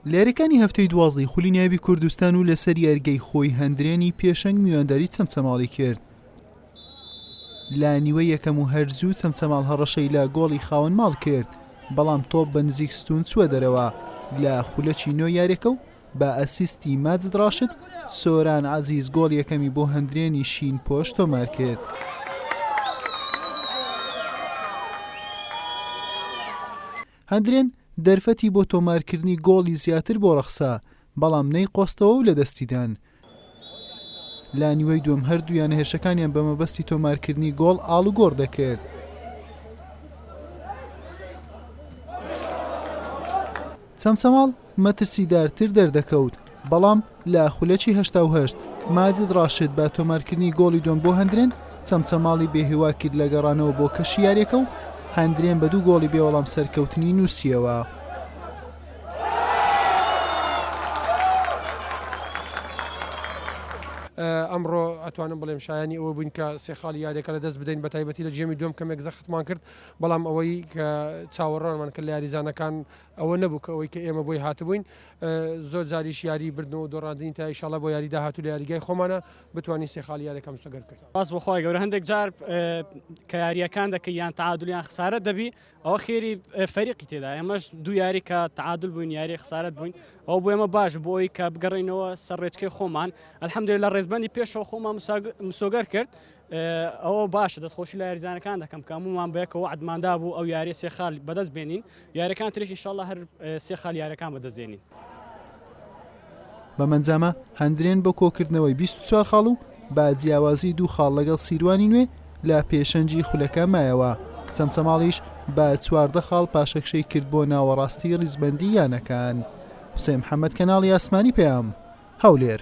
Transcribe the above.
لە یاریەکانی هەفتەی دوازدەی خولی ناوی کوردستان و لەسەر یاریگەی خۆی هەندرێنی پێشەنگ میوانداری چەمچەماڵی کرد لە نیوە یەکەم و هەرزوو چەمچەماڵ هەڕەشەی لە گۆڵی خاوەن ماڵ کرد بەڵام تۆپ بە نزیک ستون چووە دەرەوە لە خولەکی نۆ یاریەکە و بە ئەسیستی ماجد ڕاشد، سۆران عەزیز گۆڵ یەکەمی بۆ هەندرێنی شینپۆش تۆمارکرد. هەندرێن دەرفەتی بۆ تۆمارکردنی گۆڵی زیاتر بۆ ڕەخسا، بەڵام نەیقۆستەوە و لەدەستیدان. لە نیوەی دووەم هەردوو یانە هێرشەکانیان بە مەبەستی تۆمارکردنی گۆڵ ئاڵوگۆڕ دەکرد. چەمچەماڵ مەترسیدارتر دەردەکەوت بەڵام لە خولەکی هەشتا و هەشت ماجد ڕاشد بە تۆمارکردنی گۆڵی دۆم بۆ هەندرێن چەمچەماڵی بێهیوا کرد لە گەڕانەوە بۆ کەشی یاریەکە و هەندرێن بە دوو گۆڵی بێوەڵام سەرکەوتنی نووسیەوە. ئەمڕۆ ئەتوانم بڵێم شایانی ئەوە بووین کە سێ خاڵی یاریەکە لە دەست بدەین بە تایبەتی لە جێمی دوم کەمێک زەختمان کرد بەڵام ئەوەی کە چاوەڕانمان کرد لە یاریزانەکان ئەوە نەبوو کە ئەوەی کە ئێمە بۆی هاتبووین زۆر جاریش یاری بردن و دۆڕاندنی تا ئیشاڵە بۆ یاری داهات و لە یاریگای خۆمانە بتوانین سێ خاڵی یارەکەم سەگەر کرد باس بخوای گەورە هەندێک جار کە یاریەکان دەکە یان تعادلیان خسارە دەبی ئەوە خێری فەریقی تێدا ئێمەش دوو یاری کە تعادل بووین یاری خسارت بووین ئەو بۆ ئێمە باش بۆ ئەوی کە بگەڕینەوە سەر ڕێچکەی خۆمان ئەلحەمدێ لە ڕێزبندی پێشەوە خۆمان مسۆگەر کرد ئەوە باشە دەستخۆشی لە یاریزانەکان دەکەم کە هەمومان بەیەکەوە عدماندا بوو ئەو یاری سێ خال بەدەست بێنین یارەکان تریش انشاءله هەر سێ خال یارەکان بەدەستێنین. بەم ئەنجامە هەندرێن بۆ کۆکردنەوەی بیست و چوار خاڵ و با جیاوازی دوو خاڵ لەگەڵ سیروانی نوێ لە پێشەنگی خولەکە مایەوە، چەمچەماڵیش بە چواردە خاڵ پاشەکشەی کرد بۆ ناوەڕاستی ریزبەندی یانەکان. حوسێن محەمەد کەناڵی ئاسمانی پەیام، هەولێر.